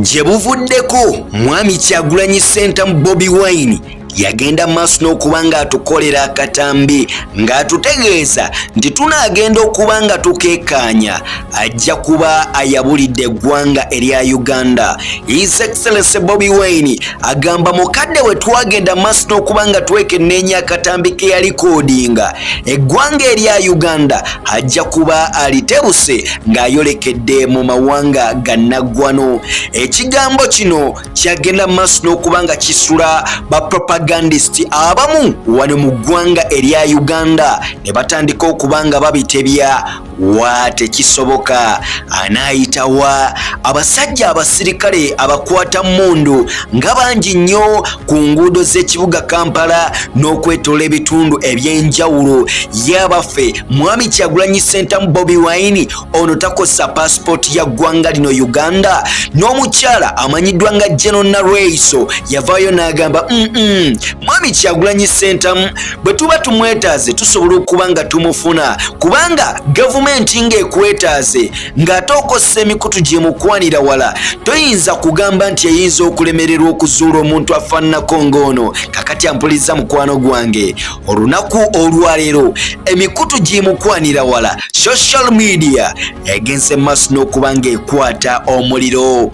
gye buvuddeko mwami kyagulanyi sentamu bobi wine yagenda maaso n'okuba ng'atukolera akatambi ng'atutegeeza nti tunaagenda okuba nga tukekaanya ajja kuba ayabulidde eggwanga erya uganda his excellence bobi wine agamba mukadde we twagenda maaso n'okuba nga twekenneenya akatambi ke yalikoodinga eggwanga erya uganda ajja kuba alitebuse ng'ayolekedde mu mawanga gannaggwano ekigambo kino kyagenda maaso n'okuba nga kisula bapropagandist abamu wano mu ggwanga erya uganda ne batandika okuba nga babitebya wa tekisoboka anaayita wa abasajja abasirikale abakwata mundu nga bangi nnyo ku nguudo z'ekibuga kampala n'okwetola ebitundu eby'enjawulo yabaffe mwami kyagulanyi sentamu bobi wine ono takosa pasipooti ya ggwanga lino uganda n'omukyala amanyiddwa nga geno nalweiso yavaayo n'agamba mm -mm. mwami kyagulanyi sentamu bwe tuba tumwetaaze tusobola okuba nga tumufuna kubanga gavumenti ng'ekwetaaze ng'ate okozesa emikutu gyemukwanira wala toyinza kugamba nti eyinza okulemererwa okuzuula omuntu afaananako ng'ono kakati ampuliriza mukwano gwange olunaku olwaleero emikutu gyimukwanira wala social media egenze maaso n'okuba ng'ekwata omuliro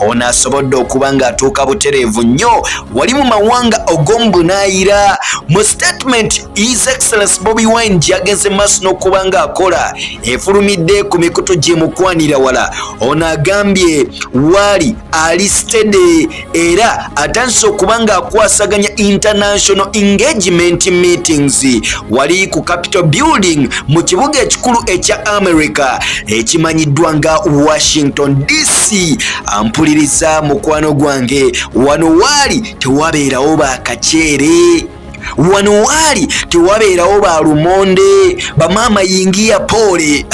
ono asobodde okuba ng'atuuka butereevu nnyo wali mu mawanga og'omubunaayira mu statement his excellence bobi wine gyagenze maaso n'okuba ng'akola efulumidde ku mikutu gyemukwanira wala ono agambye waali ali stede era atandise okuba ng'akwasaganya international engagement meetings wali ku capital building mu kibuga ekikulu ekya america ekimanyiddwa nga washington dc ampuliriza mukwano gwange wano waali tewabeerawo bakaceere wano waali tewabeerawo ba lumonde bamaama yingiya poole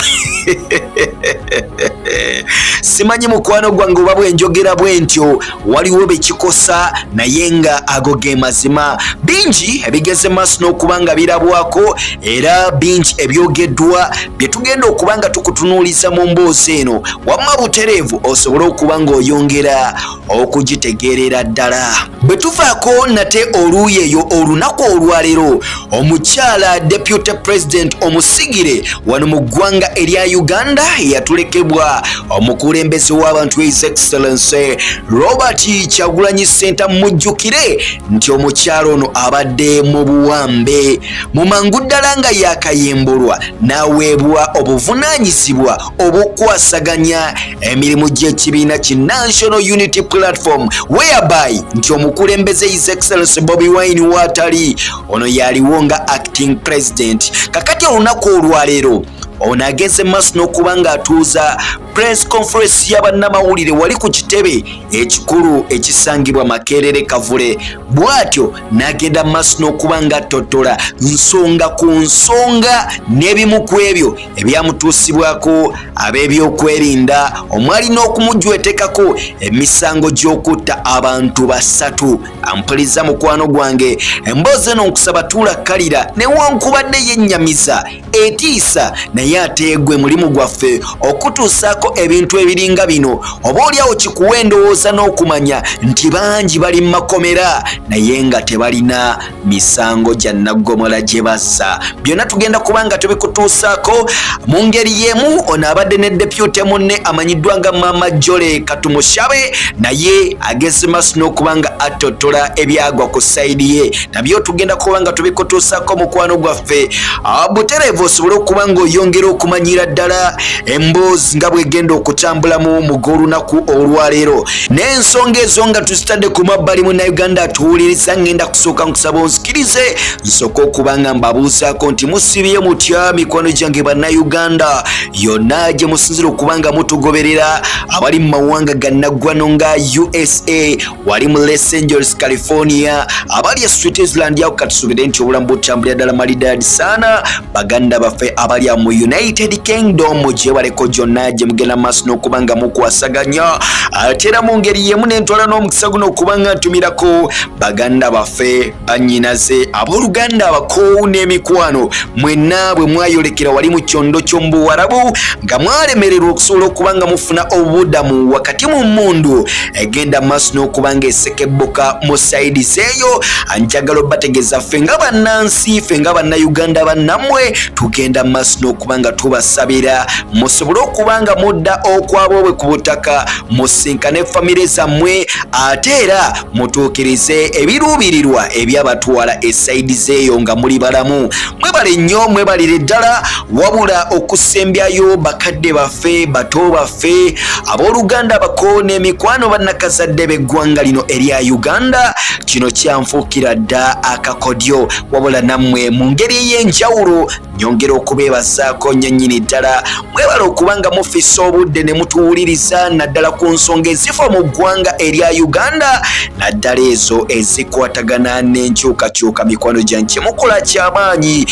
simanyi mukwano gwange oba bwenjogera bwentyo waliwo bekikosa naye nga ago ge mazima bingi ebigeze maaso n'okuba nga birabwako era bingi ebyogeddwa bye tugenda okuba nga tukutunuuliza mu mboozi eno wamma butereevu osobole okuba ng'oyongera okugitegeerera ddala bwe tuvaako nate oluuyi eyo olunaku olwaleero omukyala deputy president omusigire wano mu ggwanga erya uganda yatulekebwa omukulembeze w'abantu his excellency robert kyagulanyi senta mujjukire nti omukyala ono abadde mu buwambe mu mangu ddala nga yakayimbulwa n'aweebwa obuvunaanyizibwa obukwasaganya emirimu gy'ekibiina ki National Unity Platform whereby nti omukulembeze His Excellency Bobi Wine waatali ono yaliwo nga acting president kakati olunaku olwaleero ono agenze maaso n'okuba ng'atuuza press conference y'abannamawulire wali ku kitebe ekikulu ekisangibwa makerere kavule bw'atyo n'agenda maaso n'okuba ng'attottola nsonga ku nsonga n'ebimu ku ebyo ebyamutuusibwako ab'ebyokwerinda omwali n'okumujwetekako emisango gy'okutta abantu basatu ampuliza mukwano gwange emboozi eno nkusaba tuula kkalira newankubadde yennyamiza etiisa naye ateegwe mulimu gwaffe okutuusaako ebintu ebiringa bino oba olyawo kikuwa endowooza n'okumanya nti bangi bali mu makomera naye nga tebalina misango gya naggomola gye bazza byonna tugenda kuba nga tubikutuusaako mu ngeri y'emu ono abadde ne depute munne amanyiddwa nga maama jole katumushabe naye ageze maaso n'okuba nga attotola ebyagwa ku sayidi ye nabyo tugenda kuba nga tubikutuusaako mukwano gwaffe ah, butereevu osobole okuba ng'oyongera okumanyira ddala emboozi nga bwegenda okutambulamu mu g'olunaku olwaleero n'ensonga ezo nga tuzitadde ku mabbali munnayuganda atuwuliriza ngenda kusooka nkusaba onzikirize nsooka okuba nga mbabuuzaako nti musibye mutya mikwano gyange bannayuganda yonna gye musinzira okuba nga mutugoberera abali mu mawanga gannaggwano nga usa wali mu los angeles california abali e switzerland yako katusubire nti obulamu butambulira ddala malidadi saana baganda baffe abali mu united kingdom gyebaleko gyonna gye mugenda maaso n'okuba nga mukwasaganya ate era mu ngeri yemu nentwala n'omukisa guno okuba nga ntumirako baganda baffe banyinaze abooluganda abakoowu n'emikwano mwenna bwe mwayolekera wali mu kyondo ky'omu buwarabu nga mwalemererwa okusobola okuba nga mufuna obubudamu wakati mu mmundu egenda maaso n'okuba ng'esekebbuka mu sayidi zeeyo anjagala obategeeza ffe nga bannansi ffe nga bannayuganda bannammwe tugenda maaso n'okuba nga tubasabira musobole okuba nga mudda okwaboobwe ku butaka musinkane famire zammwe ate era mutuukirize ebiruubirirwa ebyabatwala esayidi zeeyo nga muli balamu mwebale nnyo mwebalire ddala wabula okusembyayo bakadde baffe bato baffe baffe abooluganda abako n'emikwano bannakazadde b'eggwanga lino erya uganda kino kyanfuukira dda akakodyo wabula nammwe mu ngeri ey'enjawulo nyongera okubeebazaako nnyo nnyini ddala mwebala okuba nga mufisa obudde ne mutuwuliriza naddala ku nsonga ezifa mu ggwanga erya uganda naddala ezo ezikwatagana n'enkyukakyuka mikwano gyange kyemukola kyamaanyi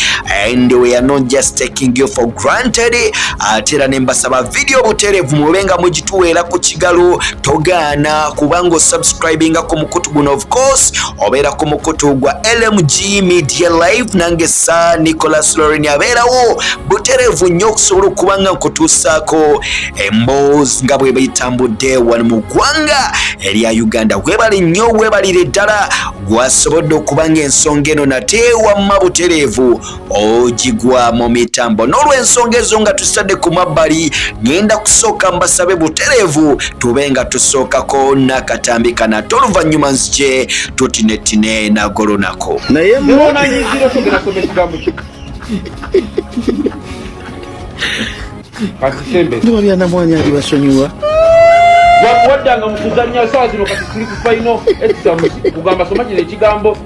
and we are not just taking you for granted ate era ne mbasaba vidiyo butereevu mube nga mugituweera ku kigalo togaana kubanga osubscribinga ku mukutu guno of course obeera ku mukutu gwa lmg media live nange sa nicolas lorin abeerawo butereevu nnyo okusobola okuba nga nkutuusaako emboozi nga bwe bayitambudde wano mu ggwanga erya uganda webali nnyo webalire ddala gwasobodde okuba nga ensonga eno nate wamma butereevu ogigwa mu mitambo n'olwensonga ezo nga tusitadde ku mabbali ngenda kusooka mbasabe butereevu tube nga tusookako nakatambi kana te oluvannyuma nzije tutinetine nago lunaku naye nduma byanamwanya ali basonyiwa waddanga mu kuzannya saa zino kati tuli ku faino ekisamu kugamba soma kino ekigambo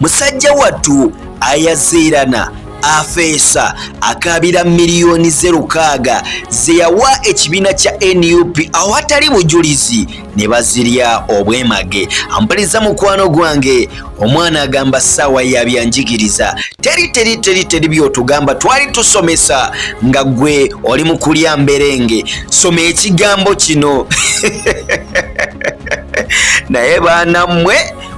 musajja wattu ayaziirana afeesa akaabira miliyoni ze lukaaga ze yawa ekibiina kya nup awatali bujulizi ne bazirya obwemage ampaliza mukwano gwange omwana agamba saawa yabyanjigiriza teri teri teri teri byotugamba twali tusomesa nga gwe oli mu kulya mberenge soma ekigambo kino naye baana mmwe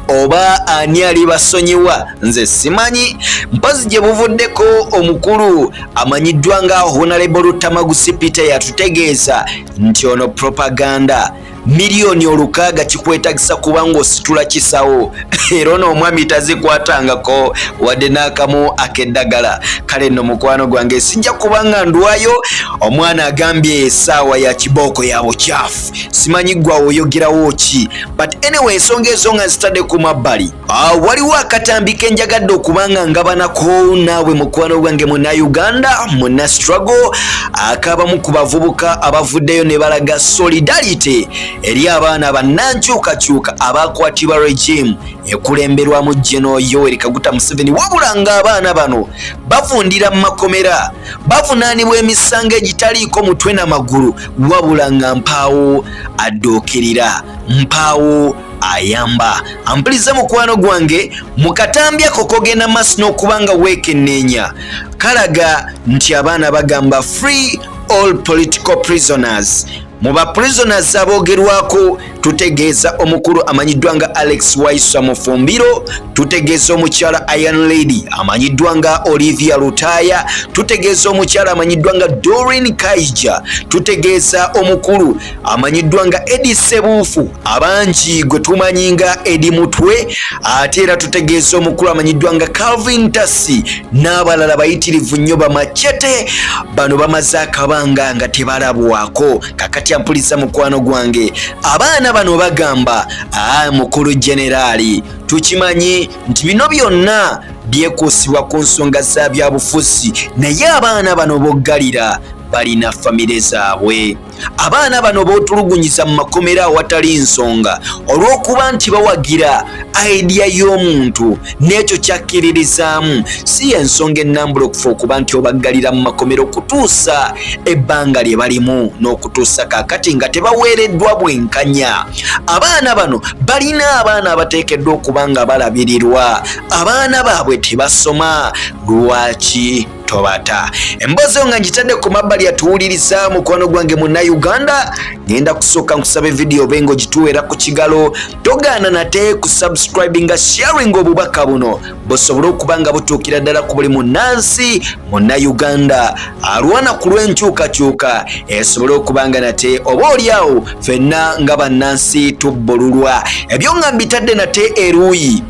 oba ani alibasonyiwa nze simanyi mpozi gye buvuddeko omukulu amanyiddwa nga honalebo lutamagusi peter yatutegeeza nti ono propaganda miliyoni olukaaga kikwetagisa kuba ng'ositula kisawo era ono omwami tazikwatangako wadde n'akamu ak'eddagala kale nno mukwano gwange sijja kuba nga ndwayo omwana agambye esaawa ya kibooko ya bukyafu simanyi ggwa oyogerawo ki but anyway ensonga ezo nga nzitadde ku mabbali ah, waliwo akatambi ke njagadde okuba nga ngabanako naawe mukwano gwange muna uganda muna struggle akabamu ku bavubuka abavuddeyo ne balaga solidarity eri abaana bannankyukakyuka abaakwatibwa regime ekulemberwamu geno yoweri kaguta museveni wabula nga abaana bano bavundira mu makomera bavunaanibwa emisango egitaliiko mutwe na magulu wabula nga mpaawo adduukirira mpaawo ayamba ampulidze mukwano gwange mukatambya kokogenda maaso n'okuba nga weekenneenya kalaga nti abaana bagamba free all political prisoners mu ba prisoners aboogerwako tutegeeza omukulu amanyiddwa nga alex waisa mufumbiro tutegeeza omukyala Iron Lady amanyiddwa nga Olivia Lutaya, tutegeeza omukyala amanyiddwa nga Doreen Kaija, tutegeeza omukulu amanyiddwa nga Edi Sebuufu abangi gwe tumanyi nga Edi Mutwe, ate era tutegeeza omukulu amanyiddwa nga Calvin Tasi n'abalala bayitirivu nnyo bamacete. Bano bamaze akabanga nga tebalabwako. Kakati ampuliza mukwano gwange, abaana bano bagamba aa ah, mukulu generali tukimanyi nti bino byonna byekuusibwa ku nsonga za byabufuzi naye abaana bano boggalira balina famire zaabwe abaana bano bootulugunyiza mu makomera awatali nsonga olw'okuba nti bawagira aidiya y'omuntu n'ekyo kyakkiririzaamu si y'ensonga ennambula okufa okuba nti obaggalira mu makomera okutuusa ebbanga lye balimu n'okutuusa kaakati nga tebaweereddwa bwenkanya abaana bano balina abaana abateekeddwa okuba nga balabirirwa abaana baabwe tebasoma lwaki tobata emboozi nga ngitadde ku mabbali yatuwuliriza mukwano gwange munnauganda ngenda kusooka nkusaba evidiyo obe nga ogituweera ku kigalo togaana nate ku subscribinga sharing obubaka buno busobole okuba nga butuukira ddala ku buli munnansi munnayuganda alwana ku lw'enkyukakyuka esobole okuba nga nate oba olyawo fenna nga bannansi tubbululwa ebyo nga mbitadde nate eruuyi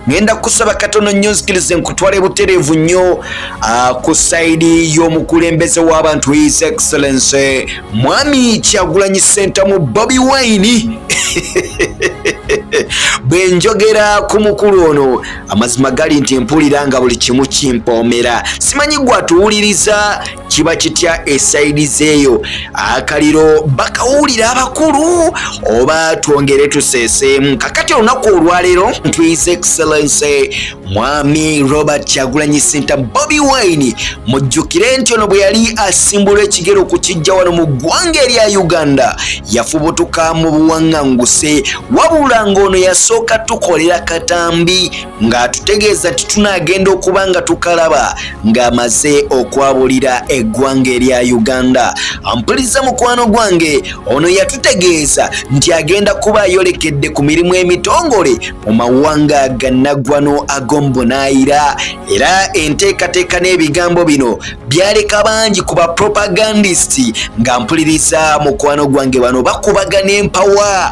ngenda kusaba katono nnyo nzikirize nkutwale butereevu nnyo ah, ku sayidi y'omukulembeze w'abantu his excellency mwami kyagulanyi sentamu bobi wine bwe njogera ku mukulu ono amazima gali nti mpulira nga buli kimu kimpoomera simanyi gwatuwuliriza kiba kitya esayidi zeeyo akaliro bakawulira abakulu oba twongere tuseeseemu kakati olunaku olwaleero ntwiz excellency mwami robert kyagulanyi senta bobi wine mujjukire nti ono bwe yali asimbula ekigero ku kijja wano mu ggwanga erya uganda yafubutuka mu buwaŋŋanguse wabula ng'ono yasooka tukolera katambi ng'atutegeeza nti tunaagenda okuba nga tukalaba ng'amaze okwabulira eggwanga erya uganda ampuliza mukwano gwange ono yatutegeeza nti agenda kuba ayolekedde ku mirimu emitongole mu mawanga gannaggwano ag'omubunaayira era enteekateeka n'ebigambo bino byaleka bangi ku bapropagandist nga mpuliriza mukwano gwange bano bakubagana empawa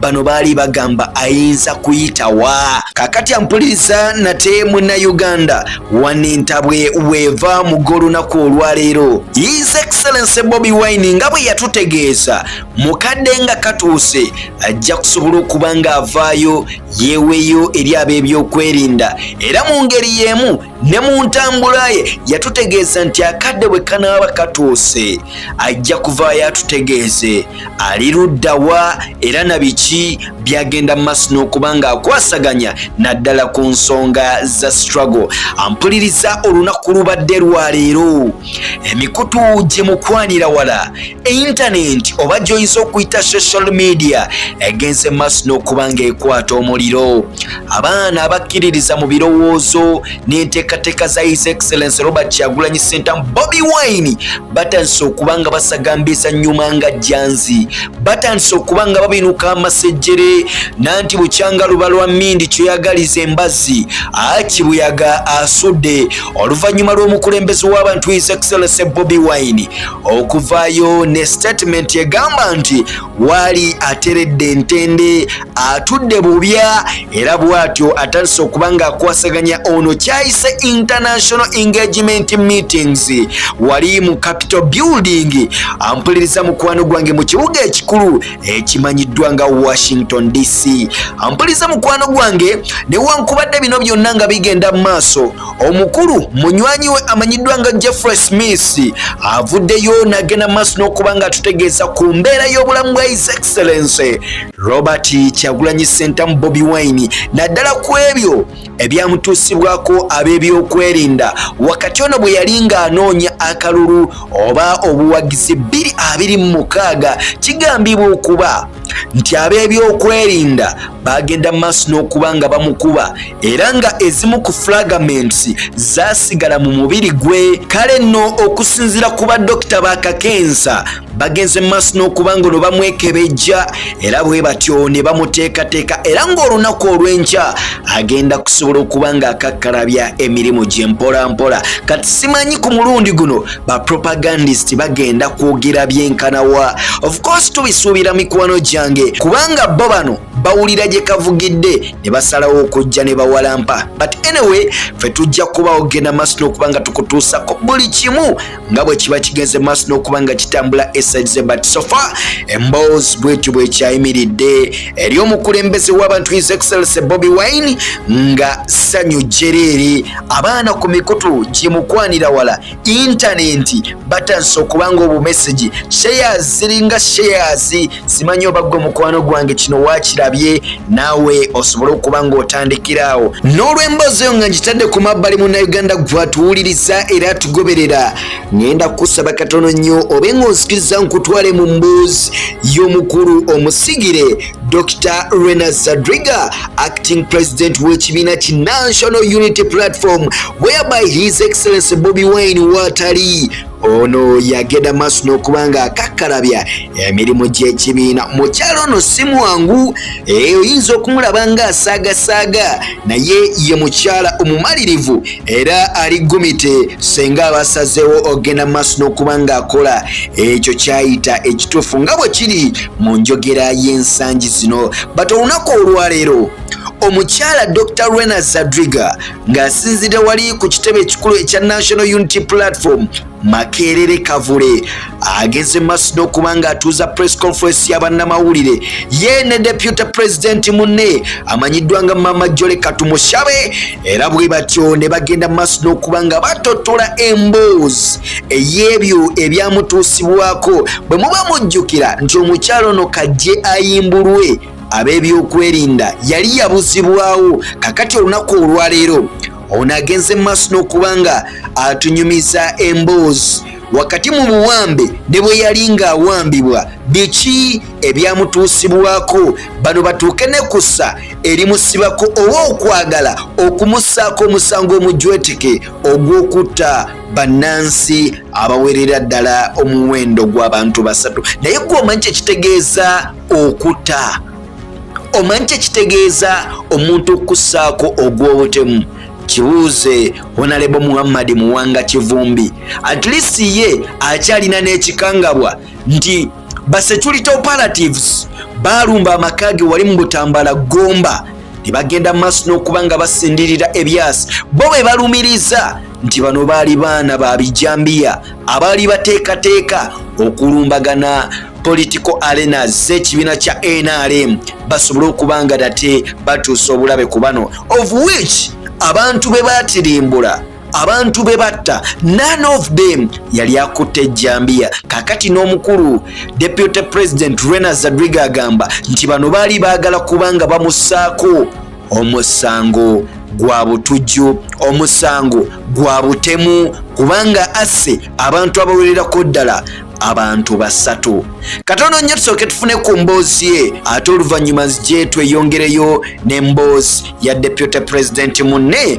bano baali bagamba ayinza kuyitawa kakati ampuliriza nate muna uganda wana entabwe weeva mugo olunaku olwaleero his excellence bobi wine nga bwe yatutegeeza mukadde nga katuuse ajja kusobola okuba nga avaayo yeeweeyo eri ab'ebyokwerinda era mu ngeri y'emu ne mu ntambula ye yatutegeeza nti akadde bwe kanaaba katuuse ajja kuvaayo atutegeeze ali ludda wa era na biki byagenda mu maaso n'okuba ng'akwasaganya naddala ku nsonga za struggle ampuliriza olunaku lubadde lwaleero emikutu gye mukwanira wala eintanenti oba gy'oyinza okuyita social media egenze mu maaso n'okuba ng'ekwata omuliro abaana abakkiririza mu birowoozo n'enteekateeka za his excellence robert kyagulanyi sentamu bobi wine batandise okuba nga basagamba ezannyuma nga janzi batandise okuba nga babinuka amasejjere nanti bukyanga luba lwa mindi kyoyagaliza embazzi akibuyaga asudde oluvannyuma lw'omukulembeze w'abantu his excellence bobi wine okuvaayo ne statement egamba nti waali ateredde entende atudde bubya era bwatyo atandise okuba ng'akwasaganya ono kyayise international engagement meetings wali mu capital building ampuliriza mukwano gwange mu kibuga ekikulu ekimanyiddwa nga washington dc ampuliriza mukwano gwange newankubadde bino byonna nga bigenda mu maaso Omukulu munywanyi we amanyiddwa nga Jeffrey Smith avuddeyo n'agenda maaso n'okuba nga atutegeeza ku mbeera y'obulamu bwa His Excellency Robert Kyagulanyi Ssentamu Bobi Wine naddala ku ebyo ebyamutuusibwako ab'ebyokwerinda wakati ono bwe yali ng'anoonya akalulu oba obuwagizi bbiri abiri mu mukaaga kigambibwa okuba nti ab'ebyokwerinda baagenda maaso n'okuba nga bamukuba era nga ezimu ku flagaments zaasigala mu mubiri gwe kale nno okusinziira ku badokita ba kakensa bagenze maaso n'okuba nga ono bamwekebejja era bwe batyo ne bamuteekateeka era ng'olunaku olw'enkya agenda kusobola okuba ng'akakkalabya emirimu gye mpolampola kati simanyi ku mulundi guno ba propagandist bagenda kwogera byenkanawa of course tubisuubira mikwano gyange kubanga bo bano bawulira gye kavugidde ne basalawo okujja ne bawalampa but anyway fe tujja kuba ogenda maaso n'okuba nga tukutuusako buli kimu nga bwe kiba kigenze maaso n'okuba nga kitambula esaize but sofa emboozi bwetyo bwekyayimiridde eri omukulembeze w'abantu his excellence bobi wine nga sanyu jereere abaana ku mikutu gimukwanira wala intanenti batandise okuba nga obumesegi sheyas ziringa sheyas simanyi oba gwe mukwano gwange kino wakirabye naawe osobole okuba ng'otandikiraawo n'olw'emboozi eyo nga ngitadde ku mabbali munauganda gwatuwuliriza era tugoberera ngenda kusaba katono nnyo obe ng'onzikiriza nkutwale mu mboozi y'omukulu omusigire Dr. Rena Zadriga, acting president with Chimina Chi National Unity Platform, whereby His Excellency Bobby Wine Watari ono yagenda maaso n'okuba nga akakkalabya emirimu gy'ekibiina mukyalo ono si mwangu eh, oyinza okumulaba nga asaagasaaga naye ye mukyala omumalirivu era ali gumite senga abasazeewo ogenda maaso n'okuba nga akola ekyo kyayita ekituufu nga bwe kiri mu njogera y'ensangi zino but olunaku olwaleero omukyala dr rena zadriga ng'asinzidde wali ku kitebe ekikulu ekya national unity platform makerere kavule ageze maaso n'okuba ng'atuuza press conference y'abannamawulire ye ne deputy president munne amanyiddwa nga mama jole katumushabe era bwe batyo ne bagenda maaso n'okuba nga batotola emboozi ey'ebyo ebyamutuusibwako bwe muba mujjukira nti omukyalo ono kajje ayimbulwe ab'ebyokwerinda yali yabuzibwawo kakati olunaku olwaleero ono agenze mu maaso n'okuba nga atunyumiza emboozi wakati mu buwambe ne bwe yali ng'awambibwa biki ebyamutuusibwako bano batuuke ne kussa erimusibako oba okwagala okumusaako omusango omujweteke ogw'okutta bannansi abawerera ddala omuwendo gw'abantu basatu naye gwe omanyi kyekitegeeza okuta omanyi kyekitegeeza omuntu okukussaako ogw'obutemu kibuuze honalebo muhammadi muwanga kivumbi at least ye akyalina n'ekikangabwa nti basecurity operatives baalumba amaka ge wali mu butambala gomba ne bagenda mu maaso n'okuba nga basindirira ebyasi bo bwe balumiriza nti bano baali baana ba bijambiya abaali bateekateeka okulumbagana political arena z'ekibiina kya nrm basobole okuba nga date batuusa obulabe ku bano of which abantu be batirimbula abantu be batta none of them yali akutte ejjambiya kakati n'omukulu deputy president rena zadriga agamba nti bano baali baagala kubanga bamusaako omusango gwa butujju omusango gwa butemu kubanga asse abantu abawererako ddala abantu basatu katono nnyo tusooke tufune ku mboozi ye ate oluvannyuma zijje tweyongereyo n'emboozi ya deputy president munne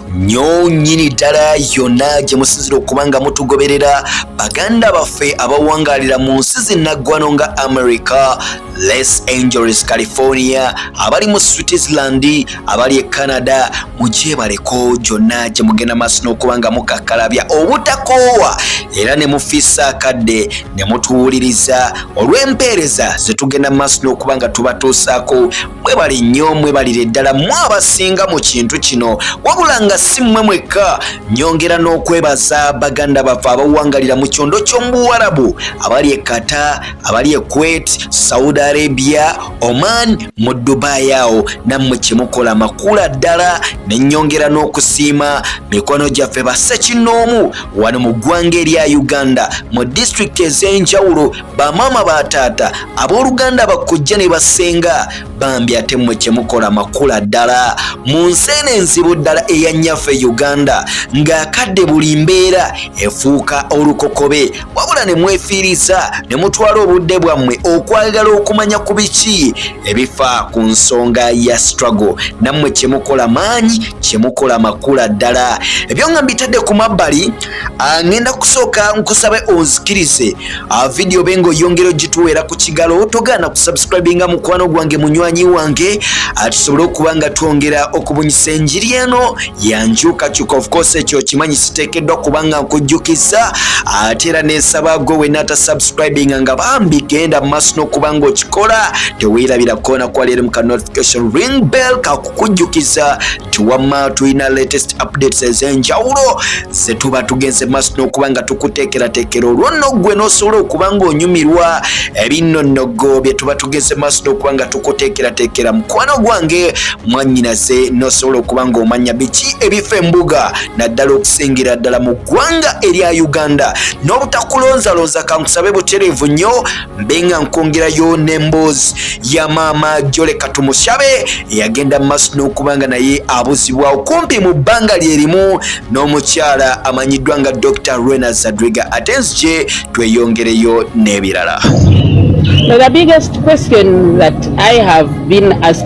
nyo nyini ddala yonna gye musinzira okuba nga mutugoberera baganda baffe abawangalira mu nsi zinnaggwano nga america les angeles california abali mu switzerland abali e canada mugyebaleko gyonna gye mugenda maaso n'okuba nga mukakkalabya obutakoowa era ne mufiisa akadde ne mutuwuliriza olw'empeereza ze tugenda maaso n'okuba nga tubatuusaako mwebale nnyo mwebalire ddala mwe abasinga mu kintu kino wabula nga si mmwe mwekka nyongera n'okwebaza baganda baffe abawangalira mu kyondo ky'omubuwarabu abali e kata abali e kuwait saudi arabia oman mu dubai awo nammwe kyemukola makula ddala ne nyongera n'okusiima mikwano gyaffe basekinnoomu wano mu ggwanga erya uganda mu disitulikiti ez'enjawulo bamaama ba taata abooluganda bakkojja ne basenga bambi ate mmwe kye mukola makula ddala mu nsi eno enzibu ddala eya nnyaffe uganda ng'akadde buli mbeera efuuka olukokobe wabula ne mwefiiriza ne mutwala obudde bwammwe okwagala okumanya ku biki ebifa ku nsonga ya struggle nammwe kye mukola maanyi kye mukola makula ddala ebyo nga mbitadde ku mabbali ah, ng'enda kusooka nkusabe onzikirize A video bengo yongero jituwera ku kigalo togana ku subscribinga mukwano gwange munywanyi wange atusobole okuba nga twongera okubunyisa enjiri eno yanjuka kyuka of course ekyo kimanyi siteekeddwa kubanga nkujjukiza ate era neesaba gwe wena ata subscribinga nga bambi genda mu maaso n'okuba nga okikola teweerabira koona kwaleero mu ka notification ring bell kakukujjukiza tiwamma tulina latest updates ez'enjawulo ze tuba tugenze maaso n'okuba nga tukuteekerateekera olwo nno ggwe n'osobola okuba ng'onyumirwa ebinno nnogo bye tuba tugenze maaso n'okuba nga tukuteekerateekera mukwano gwange mwannyinaze n'osobola okuba ng'omanya biki ebifa embuga naddala okusingira ddala mu ggwanga erya uganda n'obutakulonzalonza kankusabe butereevu nnyo mbenga nkwongerayo n'emboozi ya maama jole katumushabe eyagenda mu maaso n'okuba nga naye abuzibwa okumpi mu bbanga lye limu n'omukyala amanyiddwa nga dr rena zadriga ate nzije tweyongereyo n'ebirala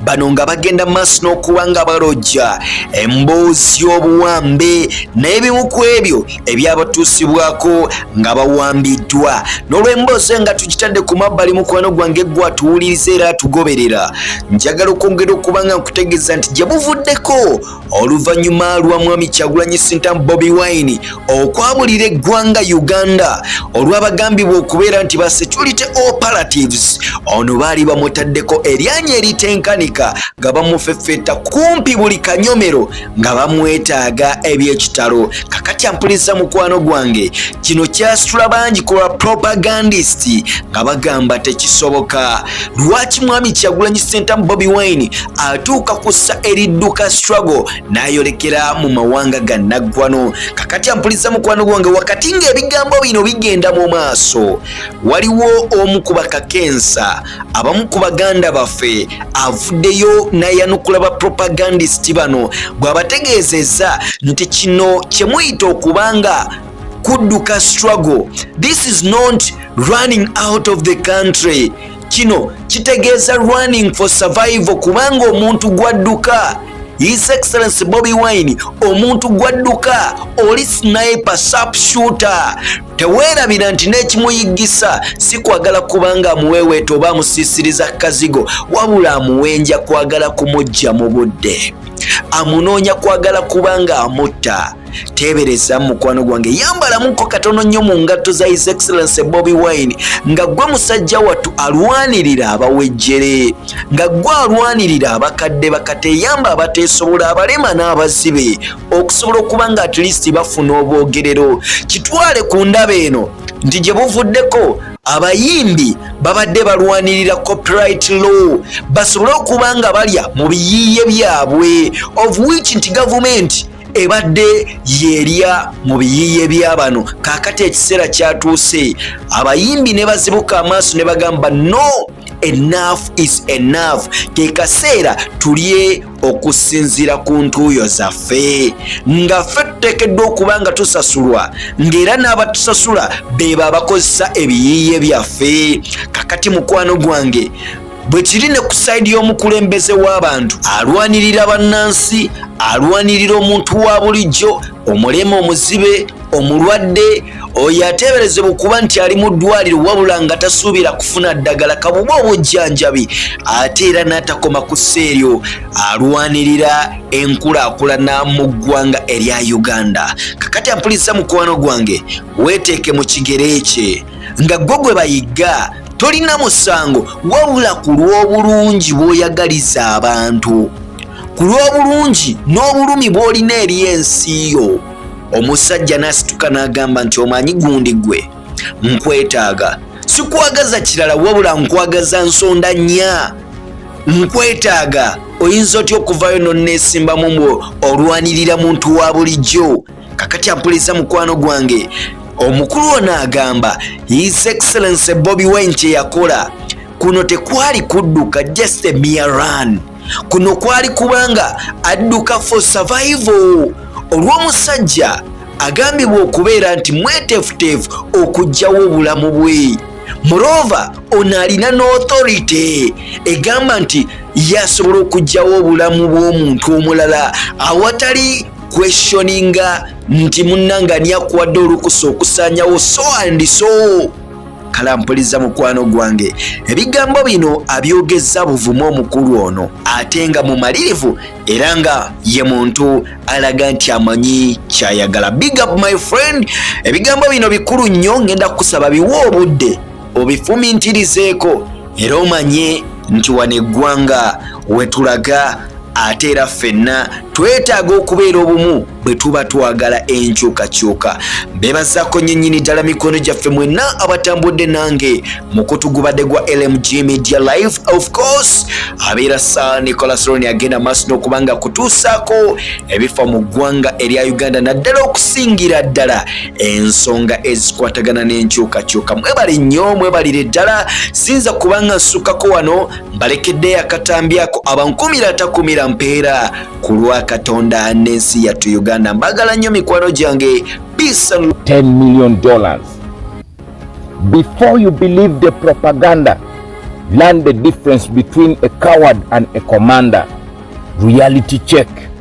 bano nga bagenda maaso n'okuba nga balojja emboozi y'obuwambe n'ebimu ku ebyo ebyabatuusibwako nga bawambiddwa n'olw'emboozi nga tugitadde ku mabbali mukwano gwange gwe atuwuliriza era atugoberera njagala okwongera okuba nga nkutegeeza nti gye buvuddeko oluvannyuma lwa mwami kyagulanyi sintamu bobi wine okwabulira eggwanga uganda olw'abagambibwa okubeera nti ba security operatives ono baali bamutaddeko eryanya eritenkanika nga bamufefeta kumpi buli kanyomero nga bamwetaaga ebyekitalo kakati ampuliza mukwano gwange kino kyasitula bangi ku ba propagandist nga bagamba tekisoboka lwaki mwami kyagulanyi sentamu bobi wine atuuka kussa eridduka struggle n'ayolekera mu mawanga ga naggwano kakati ampuliza mukwano gwange wakati ng'ebigambo bino bigenda mu maaso waliwo omu ku bakakensa abamu ku baganda baffe avuddeyo n'ayanukula ba propagandist bano bw'abategeezezza nti kino kye muyita okuba nga kudduka struggle this is not running out of the country kino kitegeeza running for survival kubanga omuntu gwadduka his excellency bobi wine omuntu gwadduka oli sniper sap shooter teweerabira nti n'ekimuyiggisa si kwagala kubanga amuweeweeta oba amusiisiriza kazigo wabula amuwenja kwagala kumujja mu budde amunoonya kwagala kubanga amutta teebereza mukwano gwange yambalamuko katono nnyo mu ngatto za his excellence bobi wine nga gwe musajja wattu alwanirira abawejjere nga gwe alwanirira abakadde bakateyamba abateesobola abalema n'abazibe okusobola okuba nga at least bafuna obwogerero kitwale ku ndaba eno nti gye buvuddeko abayimbi babadde balwanirira copyright law basobole okuba nga balya mu biyiiye byabwe of which nti gavumenti ebadde yerya mu biyiiye bya bano kaakati ekiseera kyatuuse abayimbi ne bazibuka amaaso ne bagamba no enough is enough ke kaseera tulye okusinziira ku ntuuyo zaffe nga ffe tuteekeddwa okuba nga tusasulwa ng'era n'abatusasula beebo abakozesa ebiyiiye byaffe kakati mukwano gwange bwe kiri ne ku sayidi y'omukulembeze w'abantu alwanirira bannansi alwanirira omuntu wa bulijjo omulema omuzibe omulwadde oyo ateeberezebwa okuba nti ali mu ddwaliro wabula nga tasuubira kufuna ddagala kabuba obujjanjabi ate era n'atakoma ku seeryo alwanirira enkulaakulana mu ggwanga erya uganda kakati ampuliriza mukwano gwange weeteeke mu kigere kye nga gwo gwe bayigga tolina musango wabula ku lw'obulungi bw'oyagaliza abantu ku lw'obulungi n'obulumi bw'olina eri ensi yo omusajja n'asituka n'agamba nti omanyi gundi gwe nkwetaaga sikwagaza kirala wabula nkwagaza nsonda nnya nkwetaaga oyinza otya okuvayo noneesimbamu mbu olwanirira muntu wa bulijjo kakati ampuliza mukwano gwange omukulu ono agamba his excellency bobi wine kyeyakola kuno tekwali kudduka just a mere run kuno kwali kubanga adduka for survival olw'omusajja agambibwa okubeera nti mwetefuteefu okugyawo obulamu bwe murova ono alina noauthority egamba nti yasobola okugyawo obulamu bw'omuntu omulala awatali kweshoninga nti munnanga ani akuwadde olukusa okusaanyawo so and so kala mpuliza mukwano gwange ebigambo bino abyogezza buvuma omukulu ono ate nga mumalirivu era nga ye muntu alaga nti amanyi kyayagala big up my friend ebigambo bino bikulu nnyo ngenda kukusaba biwa obudde obifumintirizeeko era omanye nti wano eggwanga wetulaga ate era ffenna twetaaga okubeera obumu bwe tuba twagala enkyukakyuka bebazaako nyenyini ddala mikono gyaffe mwenna abatambudde nange mukutugubadde gwa lmg media life of course abeera sa nicolasoloni agenda maaso n'okubanga kutuusaako ebifa mu ggwanga erya uganda naddala okusingira ddala ensonga ezikwatagana n'enkyukakyuka mwebale nnyo mwebalire ddala sinza kubanga nsukako wano mbalekeddeyo akatambi ako abankumira atakumira mpeera ku lwa katonda n'ensi yattu uganda mbagala nnyo mikwano gyange peace and 10 million dollars before you believe the propaganda learn the difference between a coward and a commander reality check